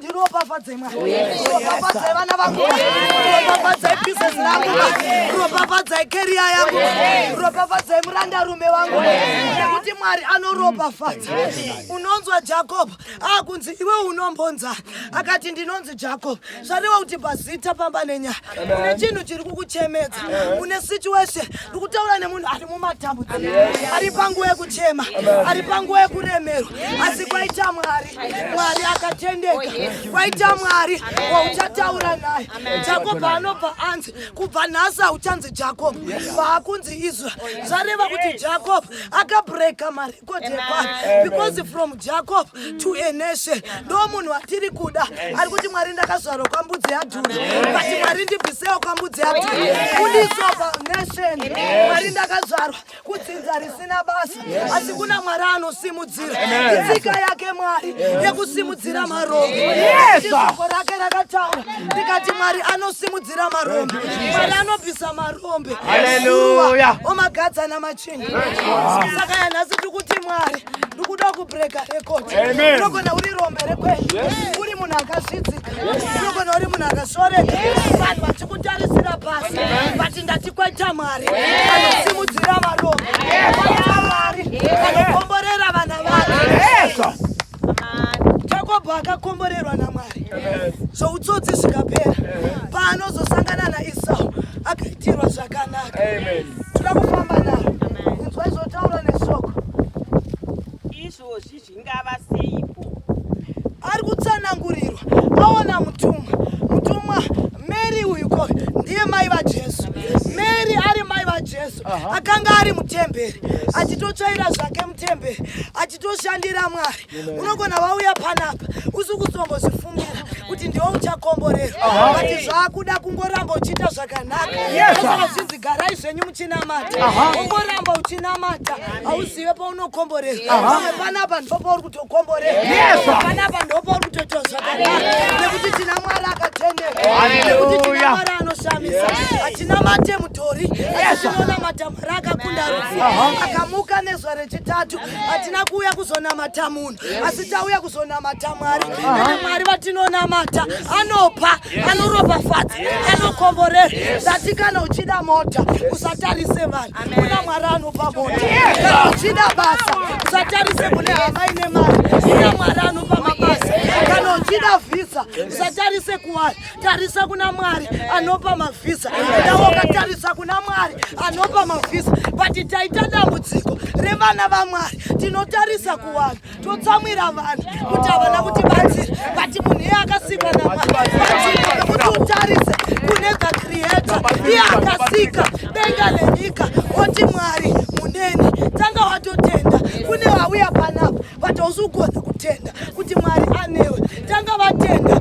ndiropafadzei mwana ropafadzai vana vangu ropafadzai business rangu ropafadzai keriya yangu ropafadzai murandarume wangu nekuti mwari anoropafadza unonzwa jakob akunzi iwe unombonza akati ndinonzi jakob zvarewa kuti pazita pamba nenyaya une chinhu chiri kukuchemedza une situation ndikutaura nemunhu ari mumatambudziko ari panguva yekuchema ari panguva yekuremerwa asi kwaita mwari Mwari akatendeka oh, waita Mwari wauchataura naye Jakob anobva anzi kubva nhasi auchanzi Jakob vaakunzi Israel oh, zvareva kuti Jakob akabreka marekodhi evanhu because from Jakob to a nation ndo munhu watiri kuda ari kuti Mwari ndakazvarwa kwambudzi yadhuri but Mwari ndibvisewo kwambudzi yadhuri kudiswa nation Mwari ndakazvarwa kudzinza risina basa asi kuna mwari anosimudzira itsika yake mwari yekusimudzira marombo izoko rake rakataura ndikati mwari anosimudzira marombo mwari anobvisa marombe aleluya omagadzana machinda saka yanhasi tiri kuti mwari ndikuda kubreka rekodi unogona uri rombe rekwedu uri munhu akasvidzika Unogona uri munhu akasoreka vanhu vachikutarisira pasi but ndati kwaita mwari anosimudzira varombo kwaita mwari anokomborera vana vake jakobo akakomborerwa namwari zvoutsotsi zvikapera paanozosangana naisau akaitirwa zvakanaka toda kufamba navo inzwa izotaura nesoko izvozvi Zvingava seipo. Ari kutsanangurirwa aona mutumwa. Mutumwa Mary uyu ko ndiye mai vaJesu. Mary ari mai vaJesu. Akanga ari mutemberi achitotsvaira zvake mutemberi achitoshandira Mwari. Unogona vauya panapa usi kuzombozvifungira kuti ndiwo uchakomborerwa but zvakuda kungoramba uchiita zvakanaka. Yes, sir. Zvizigara izvenyu muchinamata. Aha. Ungoramba uchinamata. Hausi iwe paunokomborera pamwe panapa ndopauri kutokomborera panapa ndopauri kutoita zvakanaka nekuti tina mwari akatendeka nekuti tina mwari anoshamisa hatina mate mutori atinoona matamara akakunda rufu akamuka nezwa rechitatu hatina kuuya kuzonamata munhu asi tauya kuzonamata mwari ane mwari vatinonamata anopa anoropafadza anokomborera ndati kana uchida mota usatarise vanhu kuna mwari anopa mota kana uchida basa usatarise kune hama ine mari kuna mwari anopa mabasa kana uchida vhisa usatarise kuwari tarisa kuna mwari anopa mavhisa ndaokatarisa kuna mwari anopa mavhisa but taita dambudziko revana vamwari tinotarisa kuvanhu totsamwira vanhu kuti havana kuti batsira but munhu iye akasikwa namwari utarise kune the creator iye akasika denga nenyika oti mwari munene tanga watotenda kune vauya panapa but hausi kugona kutenda kuti mwari anewe tanga vatenda